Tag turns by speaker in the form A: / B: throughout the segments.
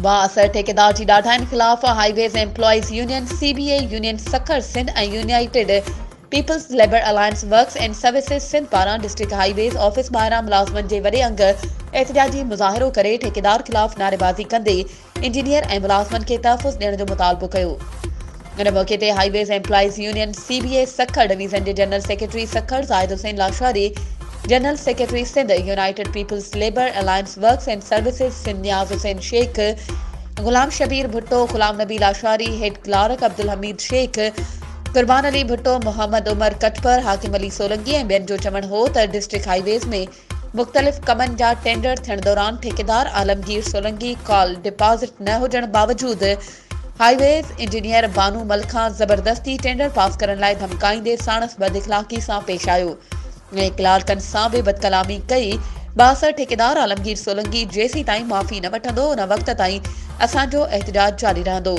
A: بااثر ٺيڪيدار جي ڏاڍاين خلاف highways employees union, C B A, union Sukkur Sindh ۽ united peoples labour alliance works and services Sindh پاران ڊسٽرڪٽ هاء ويز آفيس ٻاهران ملازمن جي وڏي انگ احتجاجي مظاهرو ڪري ٺيڪيدار خلاف نعريبازي ڪندي انجنيئر ۽ ملازمن کي تحفظ ڏيڻ جو مطالبو ڪيو. ان موقعي تي highways employees union C B A Sukkur division جي general secretary Sukkur Zahid Hussain Lashari, general secretary Sindh united peoples labour alliance works and services Sindh Niaz Hussain Shaikh, Ghulam Shabbir Bhutto, Ghulam Nabi Lashari, head clerk Abdul Hameed Shaikh, Qurban Ali Bhutto, Muhammad Umar Katpar, Hakim Ali Solangi ۽ ٻين جو چوڻ هو ته ڊسٽرڪٽ هائي ويز ۾ مختلف ڪمن جا ٽينڊر ٿيڻ دوران ٺيڪيدار عالمگير سولنگي ڪال ڊپازٽ نه هجڻ باوجود highways engineer Bano Mal کان زبردستي ٽينڊر پاس ڪرڻ لاء ڌمڪائيندي ساڻس بد اخلاقي سان پيش آيو ۽ ڪلارڪن سان به بدڪلامي ڪئي بااثر ٺيڪيدار عالمگير سولنگي جيسيتائين معافي نه وٺندو ان وقت تائين اسان جو احتجاج جاري رهندو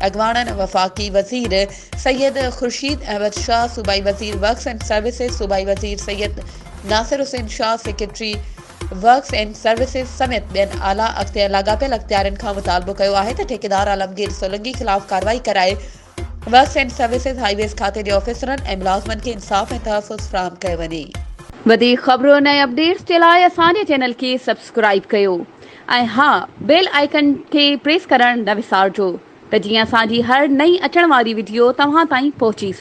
A: اڳواڻن وفاقي وزير سيد خورشيد احمد شاهه صوبائي وزير ورڪس اينڊ سروسز صوبائي وزير Syed Nasir Hussain Shah secretary works and services سميت ٻين اعليٰ اختيار لاڳاپيل اختيارين کان مطالبو ڪيو آهي ته ٺيڪيدار عالمگير سولنگي خلاف ڪارروائي ڪرائي works and services highways کاتي جي آفيسرن ۽ ملازمن کي انصاف ۽ تحفظ فراهم ڪيو وڃي. وڌيڪ خبرن ۽ اپڊيٽس جي لاء اسان جي چينل کي سبسڪرائيب ڪيو ۽ ها بيل آئيڪن کي پريس ڪرڻ نه وسارجو ته جيئن اسان جي هر نئين اچڻ واري وڊيو توهان تائين پهچي سگهي.